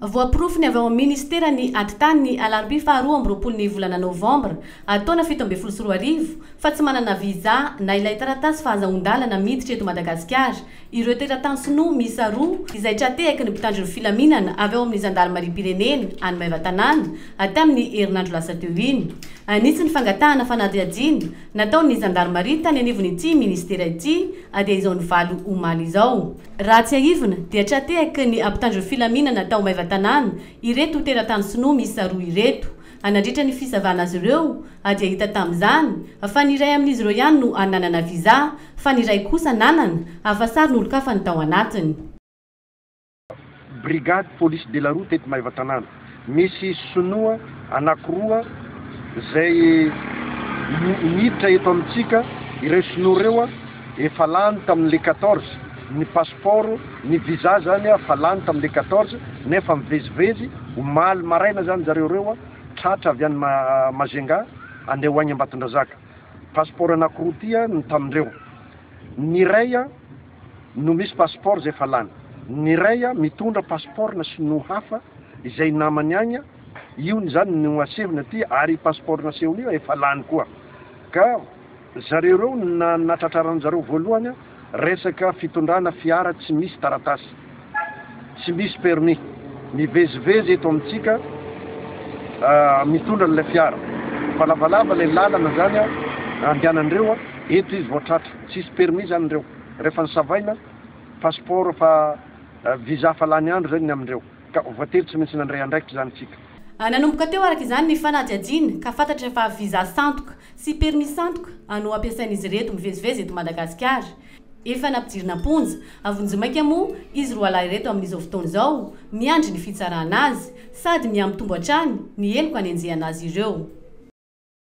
Voaporofo ny avy ao amin'ny Minisitera ny Ady Tany ny alarobia faha roa amby roapolo ny volana novambra taona fito ambin'ny folo sy roa arivo fa tsy manana visa na ilay taratasy fahazahoan-dalana miditra eto Madagasikara ireo teratany sinoa miisa roa izay tra-tehaky ny mpitandro ny filaminana avy ao amin'ny zandarimariam-pirenena any Maevatanàna hatramin'ny herinandro lasa teo iny. An'itsy ny fangatahana fanadihadiana nataon'ny zandarimaria tany anivon'ity Minisitera ity dia izao ny valo omaly izao. Raha tsiahivina dia tra-tehaky ny ampitandron'ny filaminana tao Maevatanàna ireto teratany sinoa miisa roa ireto. Anandritra ny fisavana azy ireo dia hita tamin'izany fa ny iray amin'izy ireo ihany no nanana visa fa ny iray kosa nanana afa-sarin'olon-kafa ny tao anatiny. Brigade Police de la Route eto Maevatanàna. Misy sinoa anankiroa izay miditra eto amintsika, ireo sinoa ireo efa lany tamin'ny le quatorze, ny passeport, ny visa zany efa lany tamin'ny le quatorze nefa mivezivezy, omaly maraina zany zareo ireo tratra avy any Majunga handeha ho any Ambatondrazaka. Passeport anankiroa ty no tamindreo. Ny iray. no misy passeport izay efa lany. Ny iray mitondra passeport na sinoa hafa izay namany agny, io ny zany no asehony aty ary i passeport nasehony io efa lany koa. Ka zareo ireo na natratraranjareo voalohany resaka fitondrana fiara tsy misy taratasy. Tsy misy permis. Mivezivezy eto amintsika mitondra an'ilay fiara. Fa lavalava ilay lalana zany a, andehanan'ireo a. Eto izy vao tratra. Tsisy permis zany ireo. Rehefa nisavaina, passeport fa visa fa lany andro zay ny amindreo. Ka voatery tsy maintsy nandray andraikitra zany tsika. Nanomboka teo araka izany ny fanadihadiana ka fantatra fa visa sandoka sy permis sandoka no ampiasain'izy ireto mivezivezy eto Madagasikara. Efa nampidirina am-ponja. Havonjy maika moa izy roalahy ireto amin'izao fotoana izao, miandry ny fitsarana azy. Sady miha-mitombo hatrany ny heloka anenjehana azy ireo.